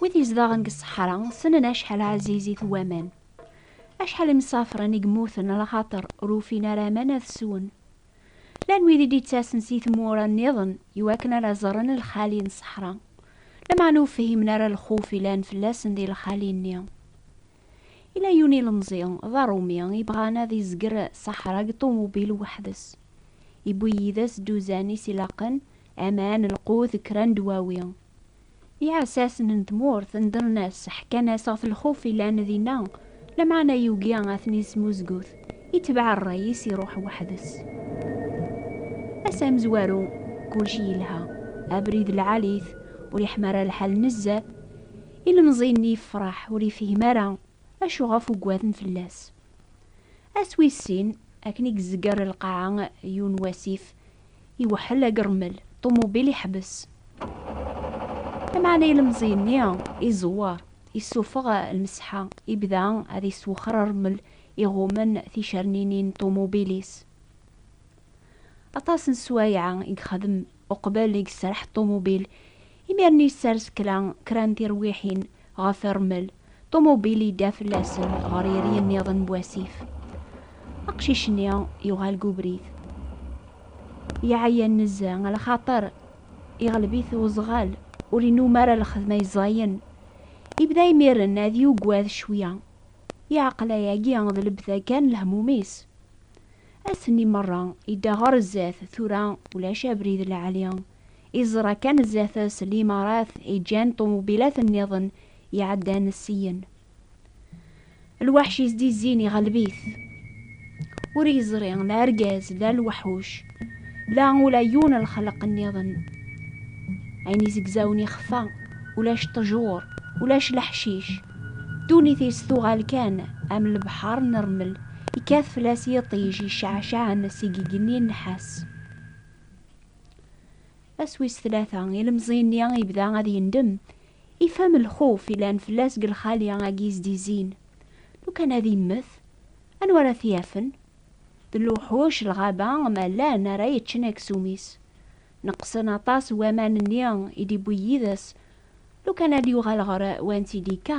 Wid yezdaɣen deg ṣṣeḥra ssnen acḥal ɛzizit waman. Acḥal imsafren i yemmuten lxaṭer ur ufin ara aman ad swen. Llan wid i d-yettasen si tmura nniḍen iwakken ara ẓren lxali n ṣṣeḥra, lameɛna ur fhimen ara lxuf yellan fell-asen di lxali-nni. Yella yiwen ilemẓi d aṛumi yebɣan ad izger ṣaḥra deg ṭumubil weḥd-s. Yewwi yid-s dduzan i s-ilaqen, aman, lqut, kra n ddwawi. Iɛessasen n tmurt nedren-as, ḥkan-as ɣef lxuf yellan dinna, lameɛna yugi ad ten-yesmuzgut, itbeɛ ṛṛay-is iṛuḥ weḥd-s. Ass amezwaru, kulci yelha, abrid lɛali-t, ur yeḥmi ara lḥal nezzeh. Ilemẓi-nni yefreḥ, ur yefhim ara acu ɣef uggaden fell-as. Ass wis sin, akken i yezger lqaɛa yiwen wasif, iweḥḥel agṛemmel, ṭumubil iḥbes. Lameɛna ilemẓi-nni iẓewwer, issufeɣ lmesḥa, ibda ad iswexxer aṛemmel iɣummen ticerninin n ṭumubil-is. Aṭas n sswayeɛ i yexdem uqbel i yesreḥ ṭumubil, Imiren yessers kra kra n tirwiḥin ɣef irmel, ṭumubil yedda fell-asen ɣer yiri nniḍen n wasif. Aqcic-nni yuɣal deg ubrid. Yeɛya nezzeh, a lxaṭer iɣleb-it uzɣal, ur inumm ara lxedma yeẓẓayen. Yebda imiren ad yugad cwiya, yeɛqel ayagi d lebda kan lehmum-is. Ass-nni merra yedda ɣer zdat, tura ulac abrid n lɛali. i ẓra kan zdat-s limarat i ǧǧan ṭumubilat nniḍen iɛeddan syen. Lwaḥc yezdizzin iɣleb-it. Ur yeẓri la argaz la lwaḥuc la ula yiwen lxelq nniḍen. Ayen izegzawen ixfa, ulac ṭṭjur, ulac leḥcic. Ddunit-is tuɣal kan am lebḥer n rmel yekkat fell-as yiṭij iceɛceɛen seg igenni nnḥas. Ass wis tlata, ilemẓi-nni yebda ad yendem, ifhem lxuf yellan fell-as deg lxali agi yesdizin. Lukan ad immet, anwa ara t-yafen? D lewḥuc n lɣaba ma llan ara yeččen aksum-is. Neqqsen aṭas waman-nni i d-iwwi yid-s. Lukan ad yuɣal ɣer wansi i d-yekka,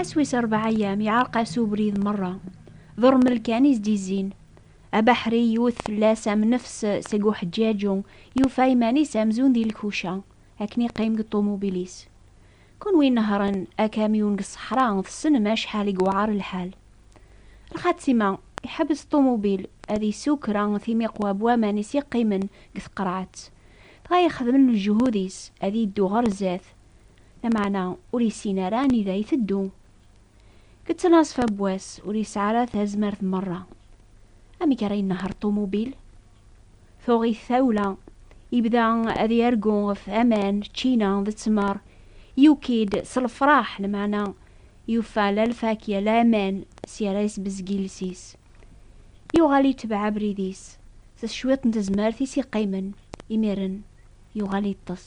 Ass wis rebɛa ayyam yeɛreq-as ubrid merra, d urmel kan i s-d-izzin. Abeḥri yewwet fell-as am nnefs seg uḥeǧǧaǧu, yufa iman-is amzun di lkuca, akken yeqqim deg ṭumubil-is. Kunwi inehhṛen akamyun deg ṣṣeḥra tessnem acḥal i yewɛeṛ lḥal. Lxatima, iḥebbes ṭumubil ad isew kra timiqwa n waman i s-yeqqimen deg tqerɛet, dɣa yexdem lejhud-is ad yeddu ɣer zdat. Lameɛna ur yessin ara anida iteddu. Geţţen-as fabwas, ur yesɛi ara tazmert meṛṛa. Amek ara inehheṛ ṭumubil? Tuɣ-it tawla, yebda ad yargu ɣef aman, ččina d ttmeṛ. Yuki-d s lefṛaḥ, lameɛna yufa la lfakya la aman, sya ara yesbezg iles-is. Yuɣal itebɛ abrid-is, s cwiṭ n tezmert i s-iqqimen, imiren yuɣal iṭṭes.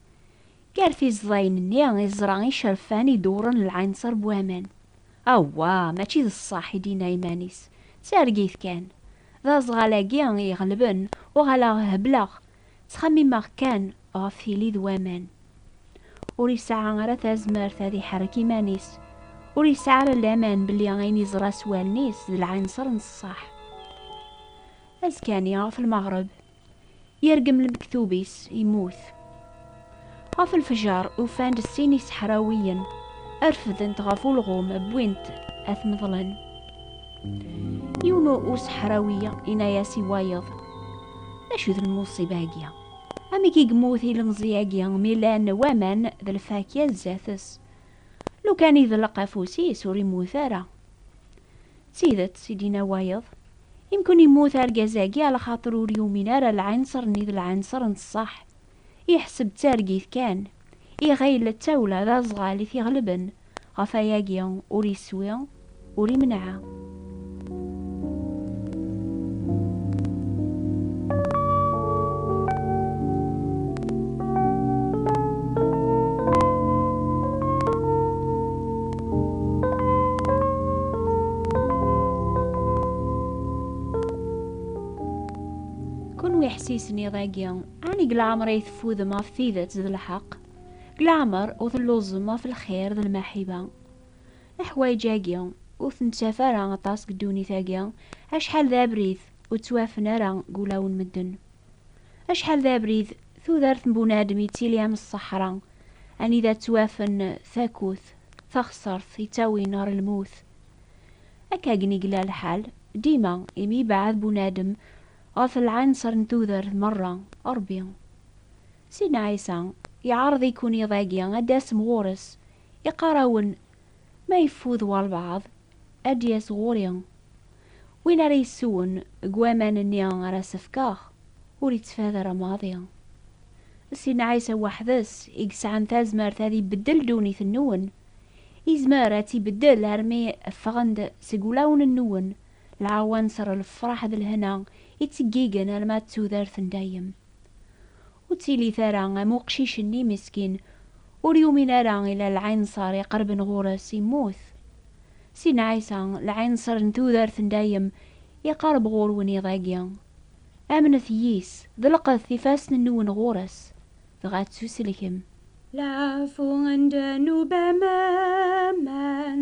Gar tiẓdayin-nni i yeẓra icerfan idewwren lɛinṣer n waman. Awwa, mačči d ṣṣeḥ i d-yenna iman-is, d targit kan. D aẓɣal-agi i iɣelben, uɣaleɣ hebleɣ, ttxemmimeɣ kan ɣef tili d waman. Ur yesɛa ara tazmert ad iḥerrek iman-is, ur yesɛi ara laman belli ayen yeẓra s wallen-is d lɛinṣer n ṣṣeḥ. Azekka-nni ɣef lmeɣreb, Yergem lmektub-is, yemmut. Ɣef lfejer, ufan-d sin iseḥrawiyen, refdent ɣef ulɣum, wwin-t ad t-meḍlen. Yiwen useḥrawi yenna-as i wayeḍ, D acu d lmuṣiba-agi? Amek i yemmut ilemẓi-agi mi llan waman d lfakya sdat-s? Lukan iḍelleq afus-is, ur yemmut ara. D tidet i d-yenna wayeḍ, Imken yemmut argaz-agi alaxaṭer ur yumin ara lɛinṣer-nni d lɛinṣer n ṣṣeḥ, yeḥseb d targit kan, iɣil d tawla d aẓɣal i t-iɣelben, ɣef wayagi ur iswi, ur imenɛa. isenniḍ-agi ɛni deg leɛmer ay teffudem ɣef tidet d lḥeqq deg leɛmer ur telluẓem ɣef lxir d lmaḥiba Leḥwayeǧ-agi ur t-nettaf ara aṭas deg ddunit-agi, acḥal d abrid ur ttwafen ara deg ulawen medden. Acḥal d abrid tudert n bunadem yettili am ṣṣeḥra, anida ttwafen takut, taxsert yettawin ɣer lmut. Akkagen i yella lḥal dima imi yebɛed bunadem ɣef lɛinṣer n tudert merra. Ṛebbi, Sidna Ɛisa, yeɛreḍ-iken iḍ-agi ad d-tasem ɣur-s Iqqar-awen, Ma yeffud walbeɛḍ, ad d-yas ɣur-i. Win ara yessewen deg waman-nni ara s-fkeɣ, ur ittfad ara maḍi. D Sidna Ɛisa weḥd-s i yesɛan tazmert ad ibeddel ddunit-nwen. Izmer ad tt-ibeddel armi ffɣen-d seg wulawen-nwen lɛawanser, lefraḥ d lehna itteggigen alma d tudert n dayem. Ur ttilit ara am uqcic-nni meskin, ur yumin ara ila lɛinṣer iqerben ɣur-s, immut. Sidna Ɛisa, lɛinṣer n tudert n dayem, iqerreb ɣur-wen iḍ-agi. Amnet yis, ḍelqet ifassen-nwen ɣur-s, dɣa ttuselkem. Lɛafun ddnub am waman.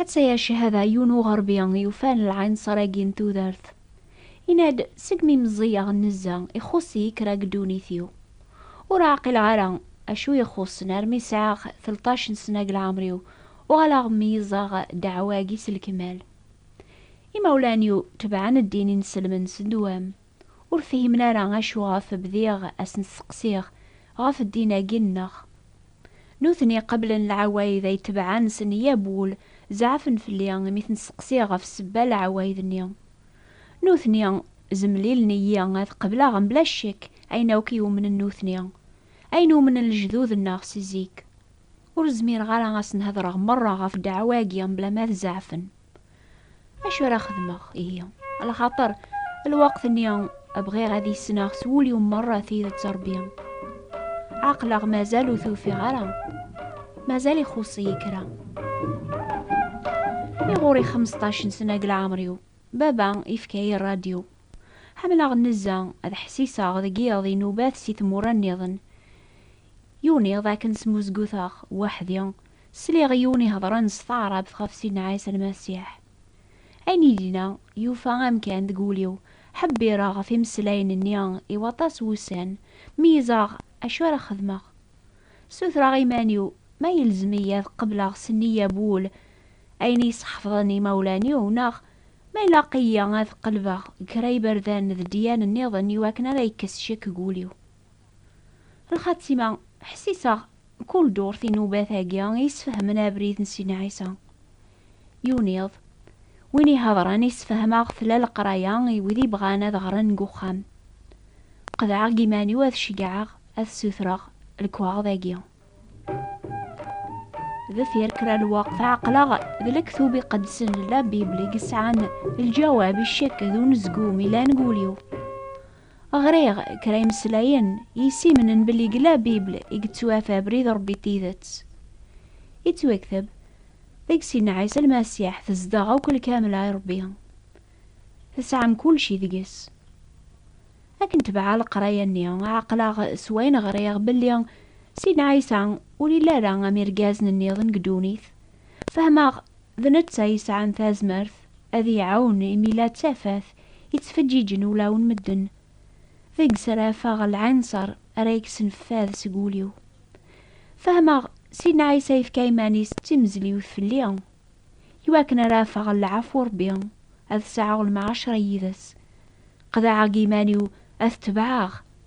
Atta ya cehada yiwen uɣerbi yufan lɛinṣer-agi n tudert, yenna-d, Segmi meẓẓiyeɣ nezza, ixuṣ-iyi kra deg ddunit-iw. Ur ɛqileɣ ara acu i yi-ixuṣṣen armi sɛiɣ telṭac n sna deg lɛemr-iw, uɣaleɣ meyyzeɣ ddeɛwa-agi s lekmal. Imawlan-iw tebɛen ddin-inselmen s ddwam. Ur fhimen ara acu ɣef bdiɣ a sen-steqsiɣ ɣef ddin-agi nneɣ. Nutni qeblen leɛwayd ay tebɛen s neyya n wul, zeɛfen fell-i imi ten-steqsiɣ ɣef ssebba n leɛwayd-nni. Nutni zemlilen-iyi ad qebleɣ mebla ccek ayen akk i umnen nutni, ayen umnen lejdud nneɣ si zik. Ur zmireɣ ara a sen-hedreɣ merra ɣef ddeɛwa-agi mebla ma ad zeɛfen. Acu ara xedmeɣ ihi? Lxaṭer lweqt-nni bɣiɣ ad isneɣ s wul-iw merra tidet Ṛebbi. Aql-aɣ mazal ur t-ufiɣ ara. Mazal ixuṣ-iyi kra. I ɣur-i xmesṭac n sna deg leɛmer-iw, baba yefka-yi ṛṛadyu. Ḥemmleɣ nnezza, ad ḥsiseɣ deg yiḍ inubat si tmura nniḍen. Yiwen iḍ akken smuzguteɣ weḥd-i Sliɣ i yiwen iheḍren s taɛrabt ɣef Sidna Ɛisa Lmasiḥ. Ayen yella, yufa amkan deg wul-iw, ḥebbireɣ ɣef imeslayen-nni i waṭas wussan, mi iẓraɣ acu ara xedmeɣ. Ssutreɣ i yiman-iw ma yelzem-iyi ad qebleɣ s nniya n wul ayen i yi-sḥefḍen yimawlan-iw neɣ ma ilaq-iyi ad qelbeɣ kra iberdan d ddyan-nniḍen iwakken ara yekkes ccek deg wul-iw. Lxatima, ḥsiseɣ kul durt inubat-agi yesfehmen abrid n Sidna Ɛisa. Yiwen iḍ, win ihedren yessefhem-aɣ tella leqraya i wid ibɣan ad ɣren deg uxxam. Qedɛeɣ deg iman-iw ad ceggɛeɣ ad ssutreɣ lekwaɣeḍ-agi. Deffir kra lweqt ɛeqleɣ d lektub iqedsen n La Bible i yesɛan lǧawab i ccek d unezgum yellan deg wul-iw. Ɣriɣ kra imeslayen yessimnen belli deg La Bible i yettwaf abrid n Rebbi n tidet. Yettwakteb, deg sin Ɛisa Lmasiḥ tezdeɣ akk lkamla i Rebbi. Tesɛam kulci deg-s. Akken tebɛeɣ leqraya-nni, ɛeqleɣ s wayen ɣriɣ belli sin Ɛisa ur yelli ara am irgazen nniḍen deg ddunit, Fehmeɣ d netta yesɛan tazmert ad iɛawen imi la d tafat yettfeǧǧiǧen ulawen medden. Deg-s ara afeɣ lɛinṣer ara yekksen fad seg wul-iw. Fehmeɣ Sidna Ɛisa yefka iman-is d timezliwt fell-i iwakken ara afeɣ lɛafu Rebbi, ad sɛuɣ lemɛacra yid-s. Qeḍɛeɣ iman-iw ad t-tebɛeɣ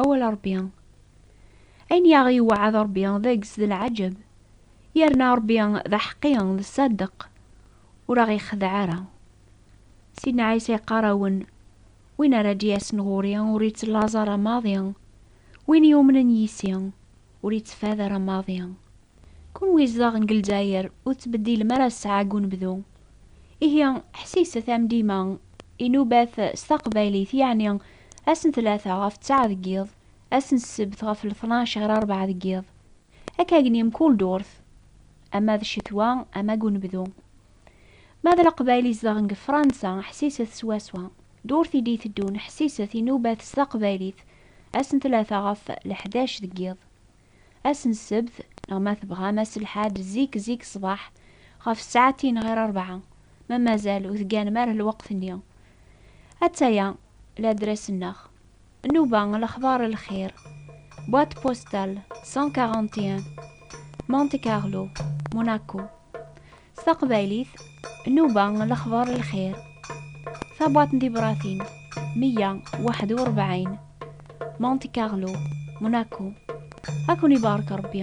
Awal Ṛebbi. Ayen i aɣ-yewɛed Ṛebbi d ages d lɛaǧeb, yerna Ṛebbi d aḥeqqi, d ṣṣadeq, ur aɣ-ixdeɛ ara. Sidna Ɛisa yeqqar-awen, Win ara d-yasen ɣur-i ur ittlaẓ ara maḍi, win yumnen yis-i. Ur yettefɛad ara maḍi. Kunwi izdaɣen deg Lezzayer ur tettbeddilem ara ssaɛa deg unebdu. Ihi ḥsiset am dima, inubat s taqbaylit yeɛni ass n tlata ɣef ttaɛa deg yiḍ, ass n ssebt ɣef letnac ɣer rrebɛa deg yiḍ. Akka gni mkul durt, ama d ccetwa ama deg unebdu. Ma d Leqbayel izedɣen deg Fransa, ḥsiset swaswa. D urti d-iteddun, ḥsiset, inubat s taqbaylit, ass n tlata ɣef leḥdac deg yiḍ. Ass n ssebt, neɣ ma tebɣam ass n lḥad zik zik ṣṣbeḥ, ɣef ssaɛtin ɣir rebɛa, ma mazal ur tegganem ara lweqt-nni. Atta-ya ladres-nneɣ. Nnuba, lexbar lxir, Boîte postale 141 Monte Carlo, Monaco S taqbaylit, Nnuba, lexbar lxir, Tabwaṭ n tibratin 141 Monte Carlo, Monaco A ken-ibarek Ṛebbi!